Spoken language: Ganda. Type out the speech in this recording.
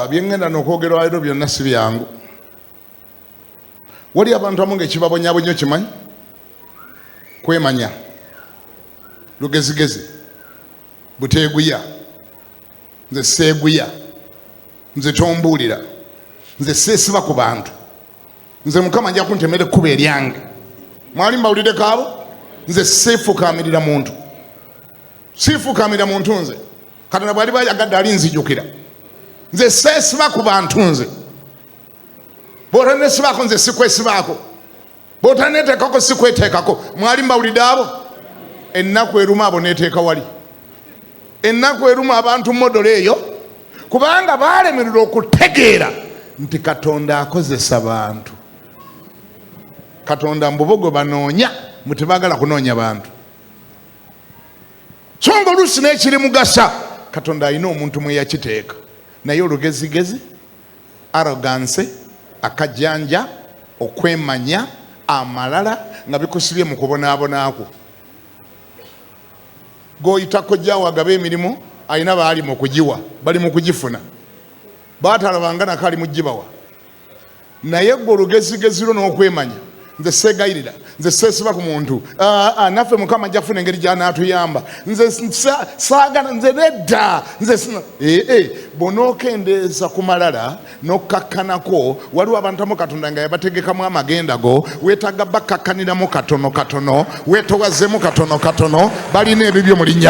byengenda nokwogera walero byonna si byangu wali abantu amu ngaekibabonyabonyo kimanyi kwemanya lugezigezi buteeguya nze seeguya nze tombuulira nze seesiba ku bantu nze mukama nja kuntemera ekkuba eryange mwali mbawulire kaabo nze siifukamirira muntu siifukamira muntu nze katonda bwali bayagadde alinzijukira nze seesiba ku bantu nze bwotanesibaako nze sikwesibaako bwotaneteekako sikweteekako mwali mbawulidde abo ennaku eruma abo neteeka wali ennaku eruma abantu modola eyo kubanga baalemererwa okutegeera nti katonda akozesa bantu katonda mbubogo banoonya mutibagala kunoonya bantu so nga oluusi n'ekirimugasa katonda alina omuntu mwe yakiteeka naye olugezigezi aroganse akajanja okwemanya amalala nga bikusibye mu kubonaabonakwo goyita kojjawo agaba emirimu alina baali mu kugiwa bali mu kugifuna baatalabanga nako ali mu gibawa naye gwe olugezigezi lwo n'okwemanya nze seegayirira nze seesiba ku muntu ah, ah, naffe mukama ajja kufuna engeri gyanaatuyamba nze saagana nze nedda nze ee eh, eh, bw'onookendeeza ku malala n'okkakkanako waliwo abantu amu katonda nga yabategekamu amagenda go weetaaga bakkakkaniramu katono katono weetowazemu katono katono balina ebibyo mu linnya